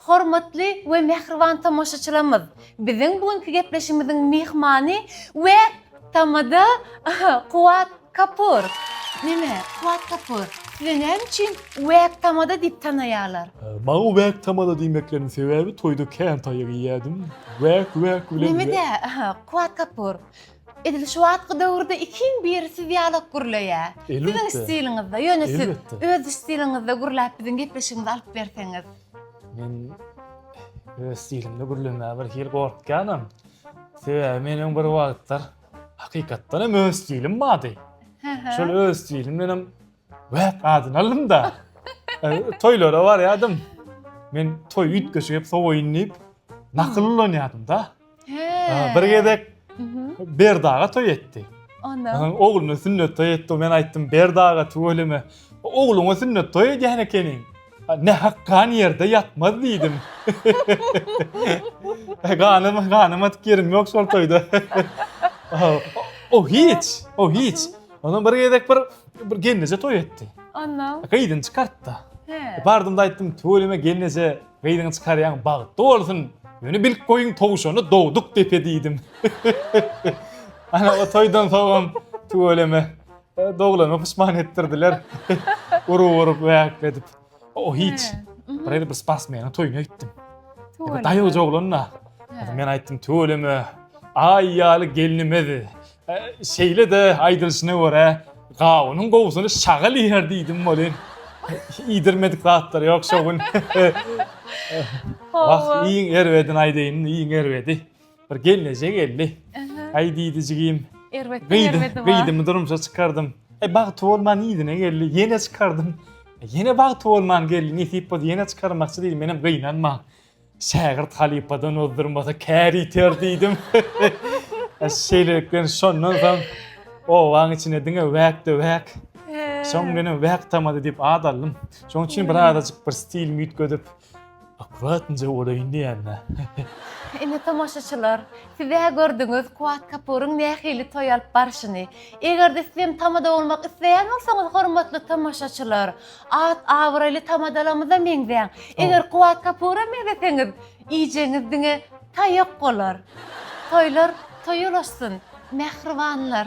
Hormatly we mähriban tomaşaçylarymyz, biziň bu günki gepleşigimiziň myhmany we tamada Kuwat Kapur. Neme, Kuwat Kapur, sizi näme üçin Wäk tamada diýip tanaýarlar? Maňa Wäk tamada diýmekleriniň sebäbi toýda kän taýak iýýärdim. Wäk, wäk bilen. Neme-de, Kuwat Kapur, Edil şu wagtky döwürde ikiň biri siz ýalak gürleýä. Siziň stiliňizde, ýöne siz öz stiliňizde gürläp biziň gepleşigimizi alyp berseňiz. Men öz stilimde gürlemäge bir hili gorkýanam. Sebäbi meniň bir wagtlar hakykatdan hem öz stilim bardy. Şol öz stilim bilen Wah, gazyny aldym-da. Toýlara barýardym. Men toý üýtgeşik hep sowaýyn diýip, nakyl ulanýardym-da. Bir gezek Berdaga toý etdi. Onda? Oglunyň sünnet toýy etdi. Men aýtdym, Berdaga, tüweleme, ogluňa sünnet toý edýän ekeniň. Ne hakkan ýerde ýatmaz diýdim. Ganym, ganym atyp ýerim ýok şol toýda. O hiç, o hiç. Onam bir gezek bir bir gelneje toý etdi. Onda. Gyzyny çykartdy. He. Bardym da aýtdym, "Töweleme gelneje, gyzyňy çykarýaň, bagtly bolsun. Ýöne bilip goýuň, towşany dogduk depe" diýdim. Ana o toýdan soňam töweleme. Doglanyma pysman etdirdiler. Urup urup wäk edip. O hiç. Bir bir sportsmeniň toýuna gitdim. Bir daýaw joglanna. Men aýtdym tüweleme. Aý ýaly gelnimedi. Şeýle de aýdylşyna görä gawunyň gowusyny şagal iýer diýdim welin. Iýdirmedik zatlar ýok şo gün. Wah iň erbedini aýdaýyn iň erbedi. Bir gelneje geldi. Aý diýdi jigim. Erbetden erbedi bar. Gyýdymy durmuşa çykardym. Aý bagty bolman yzyna geldi. Ýene çykardym. Ýene bagty bolman geldi. Nesip bolsa ýene çykarmakçy diýdim. Menem gynanma. Şägirt halypadan ozdurmasa kär ýiter diýdim. Şeýlelikden şondan soň obaň içine diňe wäkde wäk. Soň menem wäk tamady diýip ad aldym. Şonuň üçin bir azajyk bir stilimi üýtgedip, Akuratnje bolaýyn diýýän-dä. Ine, tomaşaçylar, siz-ä gördüňiz Kuwat Kapuryň nähili toý alyp barşyny. Eger-de sizem tamada bolmak isleýän bolsaňyz, hormatly tomaşaçylar, at-abraýly tamadalarymyza meňzäň. Eger Kuwat Kapura meňzeseňiz, iýjegiňiz diňe taýak bolar. Toýlar toýy ulaşsyn, mähribanlar!